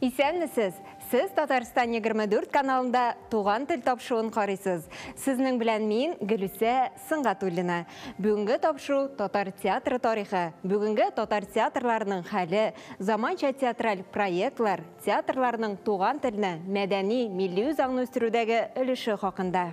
Исәнмесез! Сез Татарстан 24 каналында Туган тел тапшуын карыйсыз. Сезнең белән мин, Гөлүсә Сөнгатуллина. Бүгенге тапшу, татар театры тарихы, бүгенге татар театрларының хәле, заманча театраль проектлар, театрларның туган телне, мәдәни, милли үзаңны үстерүдәге өлеше хакында.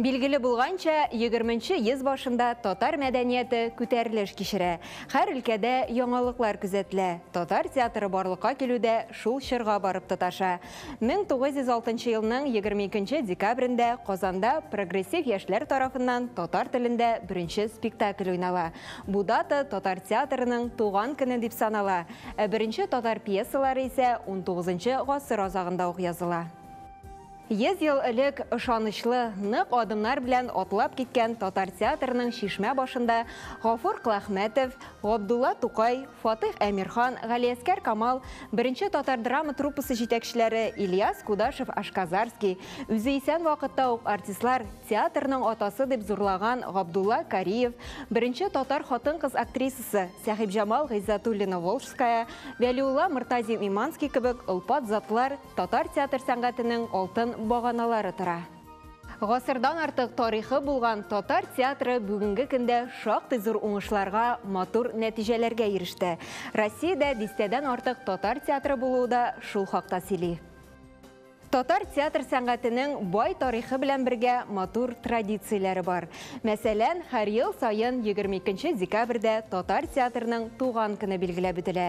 Билгеле булганча, егерменче йөз башында татар мәдәнияте күтәрелеш кичерә. Хәр өлкәдә яңалыклар күзәтелә. Татар театры барлыкка килү дә шул чорга барып тоташа. 1906 елның 22 декабрендә Казанда Прогрессив яшьләр тарафыннан татар телендә беренче спектакль уйнала. Бу дата татар театрының туган көне дип санала. Ә беренче татар пьесалары исә унтугызынчы гасыр азагында ук языла. Йөз ел элек ышанычлы, нык адымнар белән атлап киткән татар театрының чишмә башында Гафур Клахмәтов, Габдулла Тукай, Фатыйх Әмирхан, Галиәскәр Камал, Беренче татар драма труппасы җитәкчеләре Ильяс Кудашев-Ашказарский, үзе исән вакытта ук артистлар театрның атасы дип зурлаган Габдулла Кариев, беренче татар хатын-кыз актрисасы Сәхибҗамал Гыйззәтуллина-Волжская, Вәлиулла Мортазин-Иманский кебек олпат затлар Татар театр сәнгатенең алтын баганалары тора. Гасырдан артык тарихы булган татар театры бүгенге көндә шактый зур уңышларга, матур нәтиҗәләргә иреште. Россиядә дистәдән артык татар театры булуы да шул хакта сөйли. Татар театр сәнгатенең бай тарихы белән бергә матур традицияләре бар. Мәсәлән, һәр ел саен 22 декабрьдә татар театрының туган көне билгеләп үтелә.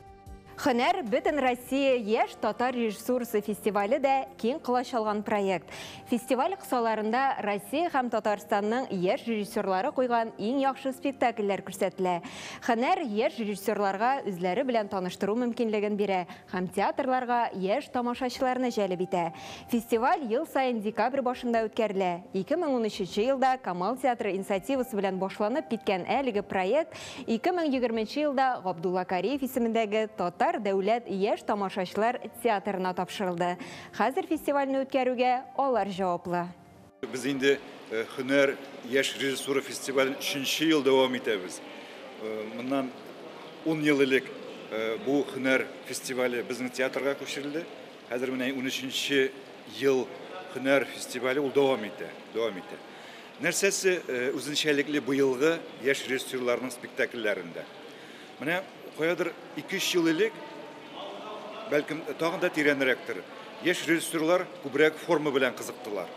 Хөнәр бөтен Россия яшь татар режиссурасы фестивале дә киң колач алган проект. Фестиваль кысаларында Россия һәм Татарстанның яшь режиссерлары куйган иң яхшы спектакльләр күрсәтелә. Хөнәр яшь режиссерларга үзләре белән таныштыру мөмкинлеген бирә һәм театрларга яшь тамашачыларны җәлеп итә. Фестиваль ел саен декабрь башында үткәрелә. 2013 елда Камал театры инициативасы белән башланып киткән әлеге проект 2020 нче елда Габдулла Кариев исемендәге Татар дәүләт яшь тамашачылар театрына тапшырылды. Хәзер фестивальне үткәрүгә алар җаваплы. Без инде Һөнәр, яшь режиссура фестивален өченче ел дәвам итәбез. Моннан ун ел элек бу Һөнәр фестивале безнең театрга күчерелде. Хәзер менә унөченче ел Һөнәр фестивале ул дәвам итә, дәвам итә. Нәрсәсе үзенчәлекле быелгы яшь режиссерларның спектакльләрендә? Менә каядыр 2-3 ел элек, бәлкем, тагын да тирәнрәктер, яшь режиссерлар күбрәк форма белән кызыктылар,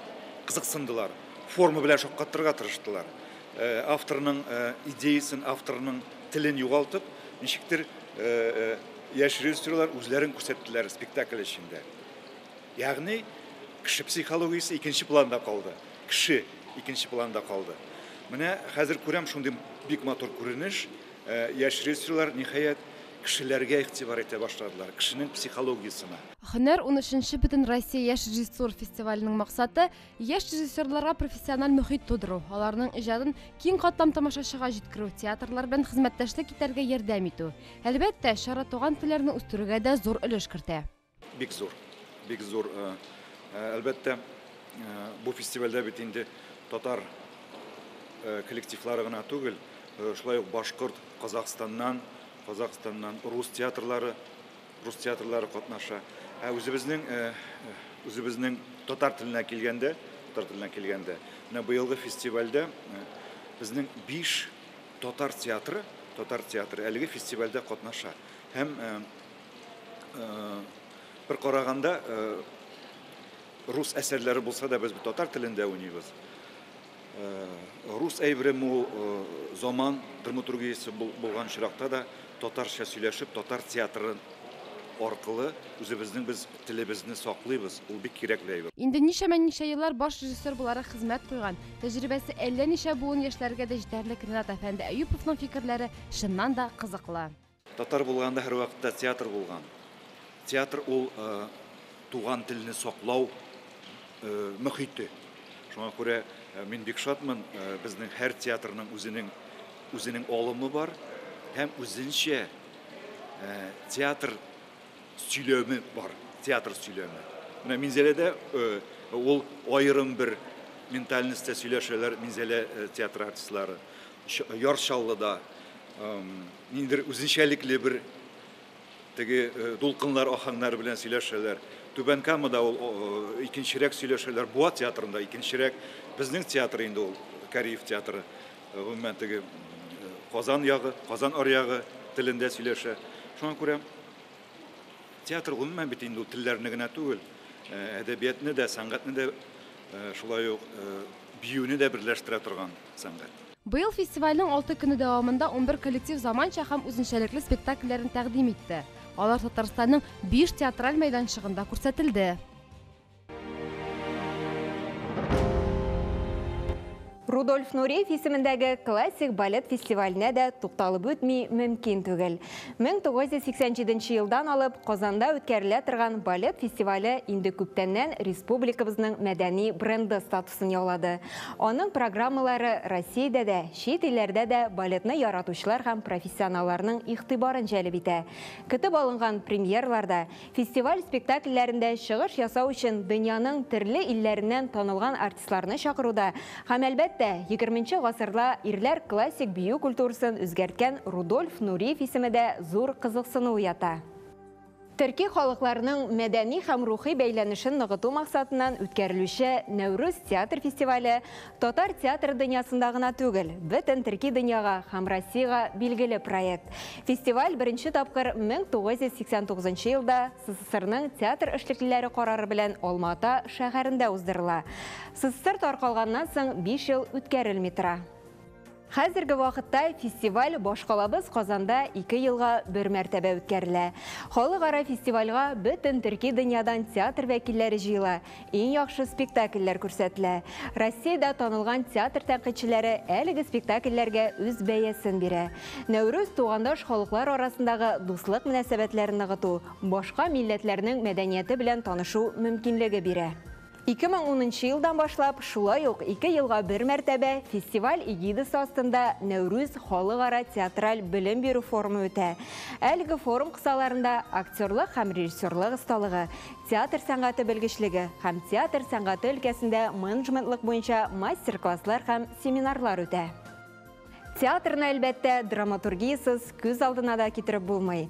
кызыксындылар, форма белән шаккатырырга тырыштылар. Авторның идеясен, авторның телен югалтып, ничектер яшь режиссерлар үзләрен күрсәттеләр спектакль эчендә. Ягъни кеше психологиясе икенче планда калды. Кеше икенче планда калды. Менә хәзер күрәм шундый бик матур күренеш. Э, яшь режиссерлар ниһаять кешеләргә игътибар итә башладылар, кешенең психологиясенә. Һөнәр 13-нче Бөтенроссия яшь режиссур фестиваленең максаты, яшь режиссерларга профессиональ мөхит тудыру, аларның иҗатын киң катлам тамашачыга җиткерү, театрлар белән хезмәттәшлек итәргә ярдәм итү. Әлбәттә, чара туган телләрне үстерүгә дә зур өлеш кертә. Бик зур, бик зур. Э, э, әлбәттә, э, бу фестивальдә бит инде татар коллективлары гына түгел, шулай ук башкорт, Казахстаннан, Казахстаннан рус театрлары, рус театрлары катнаша. Ә үзебезнең үзебезнең татар теленә килгәндә, татар теленә килгәндә, менә быелгы фестивальдә безнең 5 татар театры, татар театры әлеге фестивальдә катнаша. Һәм Бер караганда рус әсәрләре булса да без татар телендә уйныйбыз. Рус әйбере мул заман драматургиясе булган чиракта да татарча сөйләшеп, татар театры аркылы үзебезнең без телебезне саклыйбыз. Ул бик кирәк бер әйбер. Инде ничәмә ничә еллар баш режиссер буларак хезмәт куйган, тәҗрибәсе әллә ничә буын яшьләргә дә җитәрлек Ренат әфәнде Әюповның фикерләре чыннан да кызыклы. Татар булганда һәрвакытта театр булган. Театр ул туган телне саклау мөхите. Шуңа күрә мин бик шатмын, безнең һәр театрның үзенең үзенең алымы бар һәм үзенчә театр сөйләме бар, театр сөйләме. Менә Минзәләдә ул аерым бер ментальностьтә сөйләшәләр Минзәлә театры артистлары. Яр Чаллыда Ниндидер үзенчәлекле бер теге э, дулкыннар ахаңнары белән сөйләшәләр. Түбән Камада ул э, икенчерәк сөйләшәләр. Буа театрында икенчерәк. Безнең театр инде ул Кариев театры. Э, гомумән теге Казан ягы, Казан аръягы телендә сөйләшә. Шуңа күрә театр гомумән бит инде ул телләрне генә түгел, әдәбиятны да, сәнгатьне дә шулай ук биюне дә берләштерә торган сәнгать. Быел фестивальнең алты көне дәвамында унбер коллектив заманча һәм үзенчәлекле спектакльләрен тәкъдим итте. Алар Татарстанның биш театраль мәйданчыгында күрсәтелде. Рудольф Нуриев исемендәге классик балет фестиваленә дә тукталып үтми мөмкин түгел. 1987 елдан алып Казанда үткәрелә торган балет фестивале инде күптәннән республикабызның мәдәни бренды статусын сын яулады. Аның программалары Россиядә дә, чит илләрдә дә балетны яратучылар һәм профессионалларның игътибарын җәлеп итә. Көтеп алынган премьерларда, фестиваль спектакльләрендә чыгыш ясау өчен дөньяның төрле илләреннән танылган артистларны чакыруда һәм, әлбәттә, егерменче гасырда ирләр классик бию культурасын үзгәрткән Рудольф Нуриев исеме дә зур кызыксыну уята. Төрки халыкларның мәдәни һәм рухи бәйләнешен ныгыту максатыннан үткәрелүче Нәүрүз театр фестивале татар театры дөньясында гына түгел, бөтен төрки дөньяга һәм Россиягә билгеле проект. Фестиваль беренче тапкыр 1989 елда СССРның театр эшлеклеләре карары белән Алма-Ата шәһәрендә уздырыла. СССР таркалганнан соң биш ел үткәрелми тора. Хәзерге вакытта фестиваль башкалабыз Казанда ике елга бер мәртәбә үткәрелә. Халыкара фестивальга бөтен төрки дөньядан театр вәкилләре җыела, иң яхшы спектакльләр күрсәтелә. Россиядә танылган театр тәнкыйтьчеләре әлеге спектакльләргә үз бәясен бирә. Нәүрүз, тугандаш халыклар арасындагы дуслык мөнәсәбәтләрен ныгыту, башка милләтләрнең мәдәнияте белән танышу мөмкинлеге бирә. Ике мең унынчы елдан башлап, шулай ук ике елга бер мәртәбә фестиваль эгидасы астында Нәүрүз халыкара театраль белем бирү форумы үтә. Әлеге форум кысаларында актерлык һәм режиссерлык осталыгы, театр сәнгате белгечлеге һәм театр сәнгате өлкәсендә менеджментлык буенча мастер-класслар һәм семинарлар үтә. Театрны, әлбәттә, драматургиясез күз алдына да китереп булмый.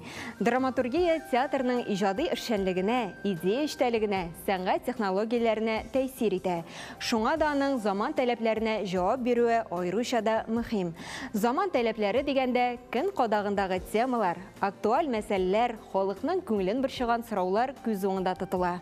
Драматургия театрның иҗади эшчәнлегенә, идея эчтәлегенә, сәнгать технологияләренә тәэсир итә. Шуңа да аның заман таләпләренә җавап бирүе аеруча да мөһим. Заман таләпләре дигәндә, көн кадагындагы темалар, актуаль мәсьәләләр, халыкның күңелен борчыган сораулар күз уңында тотыла.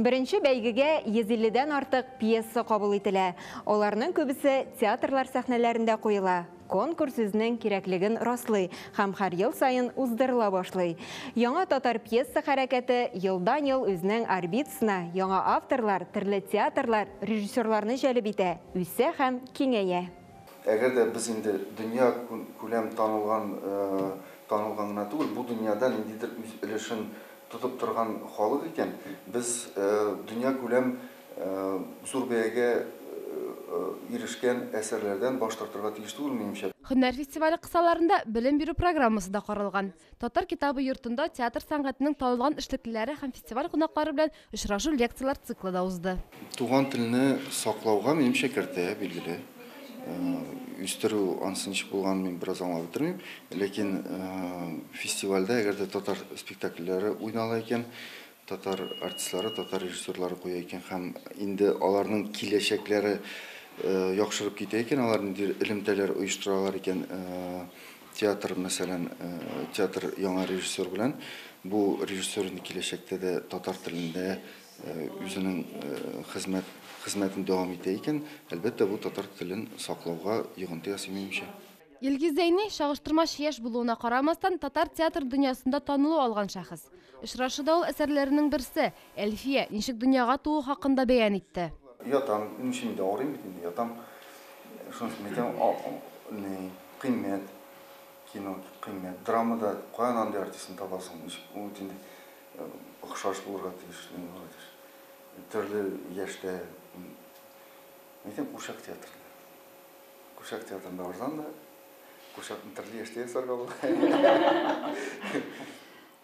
Беренче бәйгегә 150 дән артык пьеса кабул ителә. Аларның күбесе театрлар сәхнәләрендә куела. Конкурс үзенең кирәклеген раслый һәм һәр ел саен уздырыла башлый. Яңа татар пьеса хәрәкәте елдан-ел үзенең орбитасына яңа авторлар, төрле театрлар, режиссерларны җәлеп итә, үсә һәм киңәя. Әгәр дә без инде дөнья күләм танылган танылган гына түгел, бу дөньяда ниндидер үз өлешен тотып торган халык икән, без дөньякүләм зур бәягә ирешкән әсәрләрдән баш тартырга тиеш түгел, минемчә. Һөнәр фестивале кысаларында белем бирү программасы да каралган. Татар китабы йортында театр сәнгатенең танылган эшлеклеләре һәм фестиваль кунаклары белән очрашу-лекцияләр циклы да узды. Туган телне саклауга, минемчә, кертә, билгеле. үстерү анысы ничек булганын мин бераз аңлап бетермим. Ләкин фестивальдә, әгәр дә татар спектакльләре уйнала икән, татар артистлары, татар режиссерлары куя икән һәм инде аларның киләчәкләре яхшырып китә икән, алар нинди элемтәләр оештыралар икән, театр, мәсәлән, театр яңа режиссер белән, бу режиссер инде киләчәктә дә татар телендә үзенең хезмәт хезмәтен дәвам итә икән, әлбәттә, бу татар телен саклауга йогынты ясый, минемчә. Илгиз Зәйни, чагыштырмача яшь булуына карамастан, татар театр дөньясында танылу алган шәхес. Очрашуда ул әсәрләренең берсе, Әлфия, ничек дөньяга туу хакында бәян итте. Ятам, ничек инде, авырыйм бит инде, ятам. Шуның өчен әйтәм, ни, кыйммәт, кино, кыйммәт. Драмада каян андый артистны табасың, ничек, ул бит инде. Охшаш булырга тиеш, нигә алай дисез? Төрле яшьтә, әйтәм, курчак театры. Курчак театрында арзан да, курчакны төрле яшьтә ясарга була.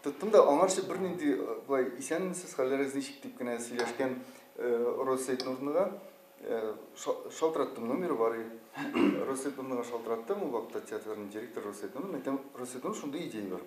Тоттым да, аңарчы бернинди э, былай исәнмесез, хәлләрегез ничек дип кенә сөйләшкән э, Роза Сәйтнурныга э, шалтыраттым, номеры бар иде. Роза Сәйтнурныга шалтыраттым, ул вакытта театрның директоры Роза Сәйтнурны, әйтәм, Роза Сәйтнур шундый идея бар.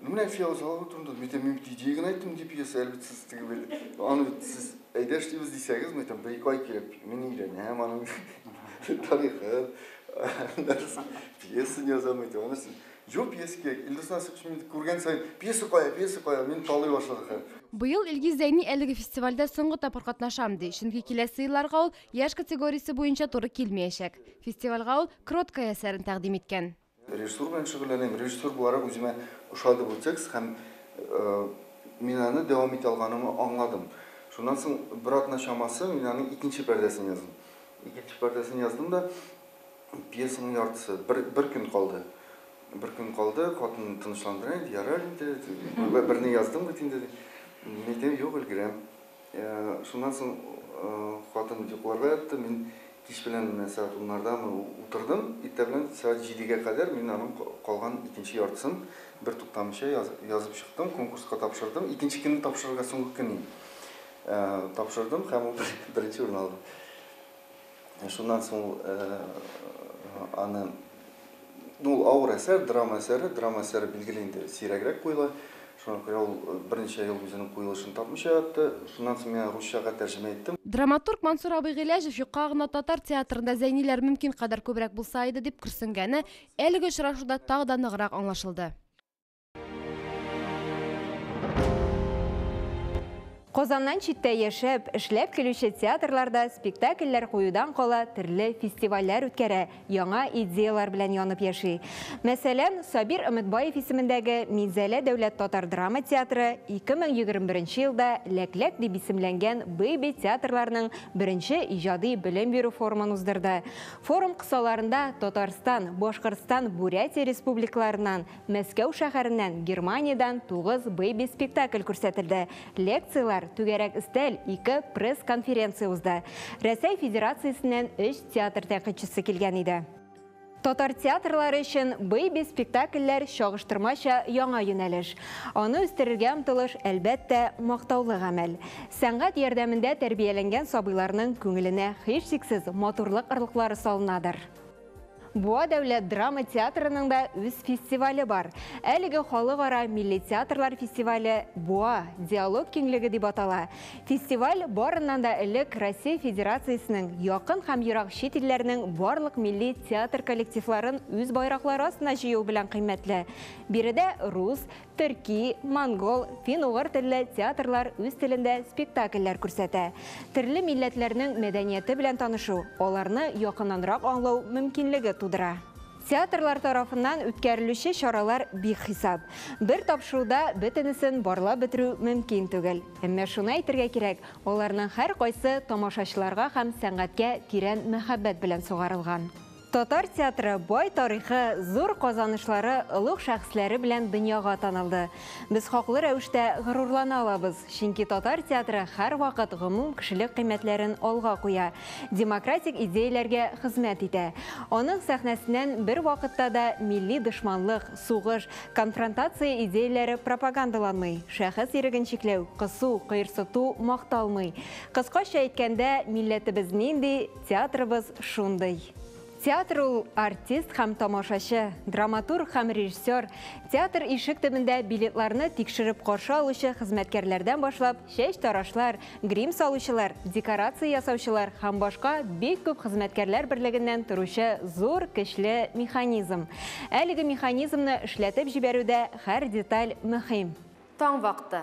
Ну, менә фиал заллы турында, мин әйтәм, мин бит идея генә айттым, ди пьеса, әлбәт, сез теге бел. Аны бит сез әйдә эшлибез дисәгез, мин әйтәм, бер ике ай кирәк, мин өйрәнәм аны. Тарихын, нәрсен, пьеса язам әйтә, аны сез. Юк, пьеса кирәк. Илдус Насыйпович мин күргән сай, пьеса кая, пьеса кая, мин талый башлады хәл. Быел Илгиз Зәйни әлеге фестивальдә соңгы тапкыр катнашам, ди, чөнки киләсе елларга ул яшь категориясе буенча туры килмиячәк. Фестивальгә ул Кроткая әсәрен тәкъдим иткән. Режиссура белән шөгыльләнәм. Режиссер буларак үземә ошады бу текст һәм мин аны дәвам итә алганымны аңладым. Шуннан соң бер атна чамасы мин аның икенче пәрдәсен яздым. Икенче пәрдәсен яздым да, пьесаның яртысы, бер, бер көн калды. Бер көн калды, хатынны тынычландыра инде, ярар инде, берне яздың бит инде, ди. Мин әйтәм, юк, өлгерәм. Шуннан соң хатын йокларга ятты, мин кич белән менә сәгать уннардамы утырдым, иртә белән сәгать җидегә кадәр мин аның калган икенче яртысын бертуктамыйча язып чыктым, конкурска тапшырдым. Икенче көнне тапшырырга соңгы көн иде. Тапшырдым һәм ул беренче урын алды. Шуннан соң аны, ну, авыр әсәр, драма әсәре, драма әсәре билгеле инде сирәгрәк куела. Шуңа күрә ул берничә ел үзенең куелышын тапмыйча ятты. Шуннан соң мин русчага тәрҗемә иттем. Драматург Мансур абый Гыйләҗев юкка гына татар театрында зәйниләр мөмкин кадәр күбрәк булса иде, дип көрсенгәне әлеге очрашуда тагы да ныграк аңлашылды. Казаннан читтә яшәп, эшләп килүче театрларда спектакльләр куюдан кала төрле фестивальләр үткәрә, яңа идеялар белән янып яши. Мәсәлән, Сабир Өметбаев исемендәге Минзәлә дәүләт татар драма театры 2021 елда Ләкләк дип исемләнгән бэйби театрларның беренче иҗади белем бирү форумын уздырды. Форум кысаларында Татарстан, Башкортстан, Бурятия республикаларыннан Мәскәү шәһәреннән Германиядән тугыз бэйби спектакль күрсәтелде. Лекцияләр, түгәрәк өстәл, ике пресс-конференция узды. Рәсәй Федерациясеннән өч театр тәнкыйтьчесе килгән иде. Татар театрлары өчен бэйби спектакльләр чагыштырмача яңа юнәлеш. Аны үстерергә омтылыш, әлбәттә, мактаулы гамәл. Сәнгать ярдәмендә тәрбияләнгән сабыйларның күңеленә һичшиксез матурлык орлыклары салынадыр. Буа дәүләт драма театрының да үз фестивале бар. Әлеге халыкара милли театрлар фестивале Буа диалог киңлеге дип атала. Фестиваль барыннан да элек Россия Федерациясенең якын һәм ерак чит илләрнең барлык милли театр коллективларын үз байраклары астына җыю белән кыйммәтле. Биредә рус, Төрки, монгол, фин-угыр телле театрлар үз телендә спектакльләр күрсәтә. Төрле милләтләрнең мәдәнияте белән танышу, аларны якыннанрак аңлау мөмкинлеге тудыра. Театрлар тарафыннан үткәрелүче чаралар бихисап. Бер тапшыруда бөтенесен барлап бетерү мөмкин түгел. Әмма шуны әйтергә кирәк, аларның һәркайсы тамашачыларга һәм сәнгатькә тирән мәхәббәт белән сугарылган. Татар театры бай тарихы, зур казанышлары, олуг шәхесләре белән дөньяга танылды. Без хаклы рәвештә горурлана алабыз, чөнки татар театры һәрвакыт гомум кешелек кыйммәтләрен алга куя, демократик идеяләргә хезмәт итә. Аның сәхнәсеннән бервакытта да милли дошманлык, сугыш, конфронтация идеяләре пропагандаланмый, шәхес иреген чикләү, кысу, кыерсыту макталмый. Кыскача әйткәндә, милләтебез нинди, Театрыбыз шундый. Театр ул, артист һәм тамашачы, драматург һәм режиссер, театр ишек төбендә билетларны тикшереп каршы алучы хезмәткәрләрдән башлап, чәч тарашлар, грим салучылар, декорация ясаучылар һәм башка бик күп хезмәткәрләр берлегеннән торучы зур көчле механизм. Әлеге механизмны эшләтеп җибәрүдә һәр деталь мөһим. Таң вакыты.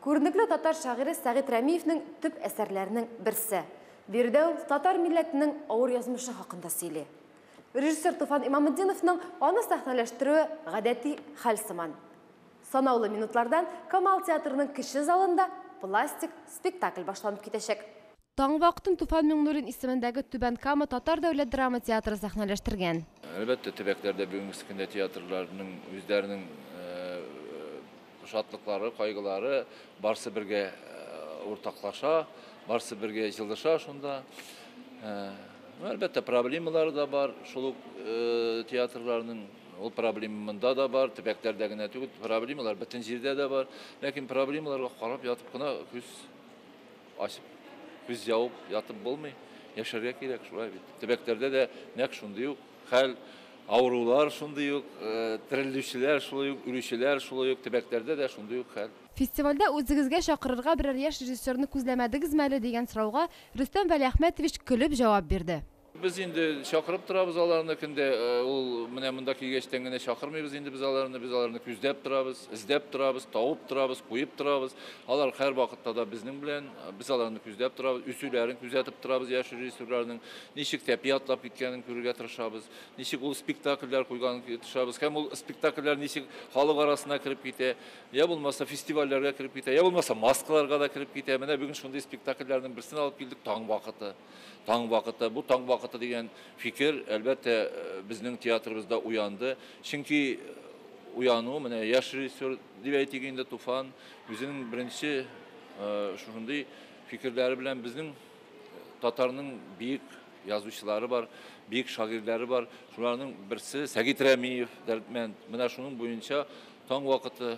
Күренекле татар шагыйре Сәгыйть Рәмиевнең төп әсәрләренең берсе. Биредә ул татар милләтенең авыр язмышы хакында сөйли. Режиссер Туфан Имаметдиновның аны сәхнәләштерүе гадәти хәл сыман. Санаулы минутлардан Камал театрының кече залында пластик спектакль башланып китәчәк. Таң вакытын Туфан Миңнуллин исемендәге Түбән Кама татар дәүләт драма театры сәхнәләштергән. Әлбәттә, төбәкләрдә бүгенге көндә театрларның үзләренең шатлыклары, кайгылары, барсы бергә уртаклаша, барсы бергә җылыша шунда. Әлбәттә, проблемалары да бар шул ук театрларның. Ул проблема монда да бар, төбәкләрдә генә түгел, проблемалар бөтен җирдә дә бар. Ләкин проблемаларга карап ятып кына күз Ачып, күз ябып ятып булмый, яшәргә кирәк, шулай бит. Төбәкләрдә дә нәкъ шундый ук хәл, авырулар шундый ук, терелүчеләр шулай ук, үлүчеләр шулай ук, төбәкләрдә дә шундый ук хәл. Фестивальдә үзегезгә чакырырга берәр яшь режиссерны күзләмәдегезме әле, дигән сорауга Рөстәм Вәлиәхмәтович көлеп җавап бирде. Без инде чакырып торабыз аларны көндә. Ул менә монда килгәчтән генә чакырмыйбыз инде без аларны. Без аларны күздәп торабыз, эздәп торабыз, тавып торабыз, куеп торабыз. Алар һәр вакытта да безнең белән. Без аларны күздәп торабыз, үсүләрен күзәтеп торабыз яшь режиссерларның. Ничек тәпи атлап киткәнен күрергә тырышабыз. Ничек ул спектакльләр куйганын тырышабыз. Һәм ул спектакльләр ничек халык арасына кереп китә, я булмаса фестивальләргә кереп китә, я булмаса маскаларга да кереп китә. Менә бүген шундый спектакльләрнең берсен алып килдек, Таң вакыты. Таң вакыты, бу таң вакыты дигән фикер, әлбәттә, безнең театрыбызда уянды. Чөнки уяну, менә яшь режиссер дип әйтик инде, Туфан үзенең беренче шундый фикерләре белән безнең татарның биек язучылары бар, биек шагыйрьләре бар. Шуларның берсе Сәгит Рәмиев, Дәрдмәнд. Менә шуның буенча таң вакыты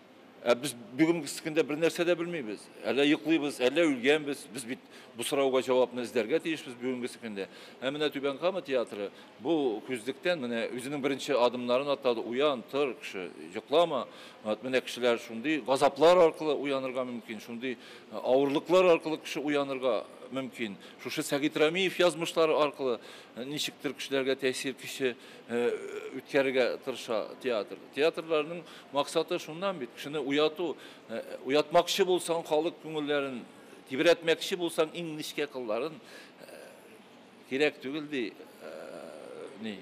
Ә без бүгенге көндә бер нәрсә дә белмибез. Әллә йоклыйбыз, әллә үлгәнбез. Без бит бу сорауга җавапны эзләргә тиешбез бүгенге көндә. Ә менә Түбән Кама театры бу күзлектән менә үзенең беренче адымнарын атлады. Уян, тор, кеше, йоклама. Вот менә кешеләр шундый газаплар аркылы уянырга мөмкин, шундый э, авырлыклар аркылы кеше уянырга мөмкин. Шушы Сәгит Рамиев язмышлары аркылы э, ничектер кешеләргә тәэсир көче үткәрергә тырыша театр. Театрларның максаты шуннан бит, кешене уяту. Уятмакчы булсаң халык күңелләрен, тибрәтмәкче булсаң иң нечкә кылларын кирәк түгел ди. Ни?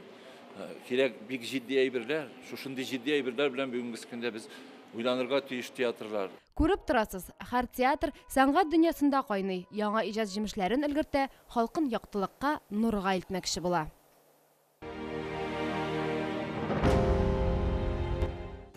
Кирәк бик җитди әйберләр. Шушындый җитди әйберләр белән бүгенге көндә без уйланырга тиеш театрлар. Күреп торасыз, һәр театр сәнгать дөньясында кайный, яңа иҗат җимешләрен өлгертә, халкын яктылыкка, нурга илтмәкче була.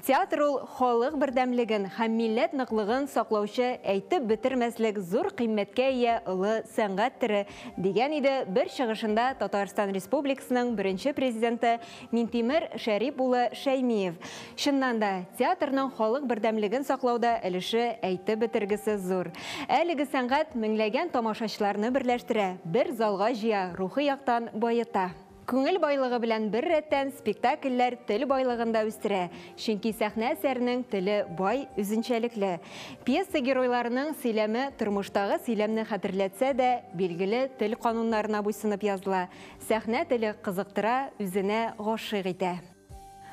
Театр ул, халык бердәмлеген һәм милләт ныклыгын саклаучы, әйтеп бетермәслек зур кыйммәткә ия олы сәнгать төре, дигән иде бер чыгышында Татарстан Республикасының беренче Президенты Минтимер Шәрип улы Шәймиев. Чыннан да, театрның халык бердәмлеген саклауда өлеше әйтеп бетергесез зур. Әлеге сәнгать меңләгән тамашачыларны берләштерә, бер залга җыя, рухи яктан баета. Күңел байлыгы белән беррәттән, спектакльләр тел байлыгын да үстерә, чөнки сәхнә әсәренең теле бай, үзенчәлекле. Пьеса геройларының сөйләме тормыштагы сөйләмне хәтерләтсә дә, билгеле тел кануннарына буйсынып языла. Сәхнә теле кызыктыра, үзенә гашыйк итә.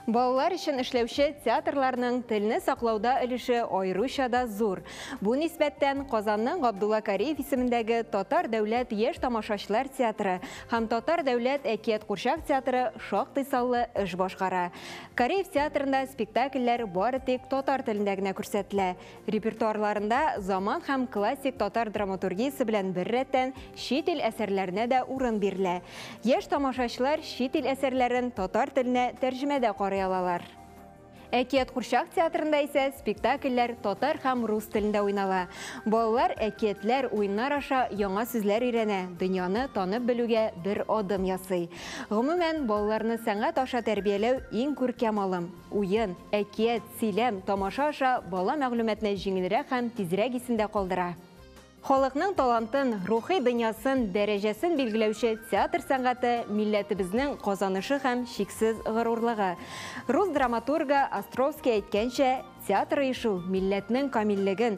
Балалар өчен эшләүче театрларның телне саклауда өлеше аеруча да зур. Бу нисбәттән Казанның Габдулла Кариев исемендәге Татар дәүләт яшь тамашачылар театры һәм Татар дәүләт әкият-курчак театры шактый саллы эш башкара. Кариев театрында спектакльләр бары тик татар телендә генә күрсәтелә. Репертуарларында заман һәм классик татар драматургиясе белән беррәттән чит ил әсәрләренә дә урын бирелә. Яшь тамашачылар чит ил әсәрләрен татар теленә тәрҗемәдә карый алалар. Әкият курчак театрында исә спектакльләр татар һәм рус телендә уйнала. Балалар әкиятләр, уеннар аша яңа сүзләр өйрәнә, дөньяны танып белүгә бер адым ясый. Гомумән, балаларны сәнгать аша тәрбияләү иң күркәм алым. Уен, әкият, Сөйләм, тамаша аша бала мәгълүматны җиңелрәк һәм тизрәк исендә калдыра. Халыкның талантын, рухи дөньясын, дәрәҗәсен билгеләүче театр сәнгате, милләтебезнең казанышы һәм чиксез горурлыгы. Рус драматургы Островский әйткәнчә, театр оешу, милләтнең камиллеген,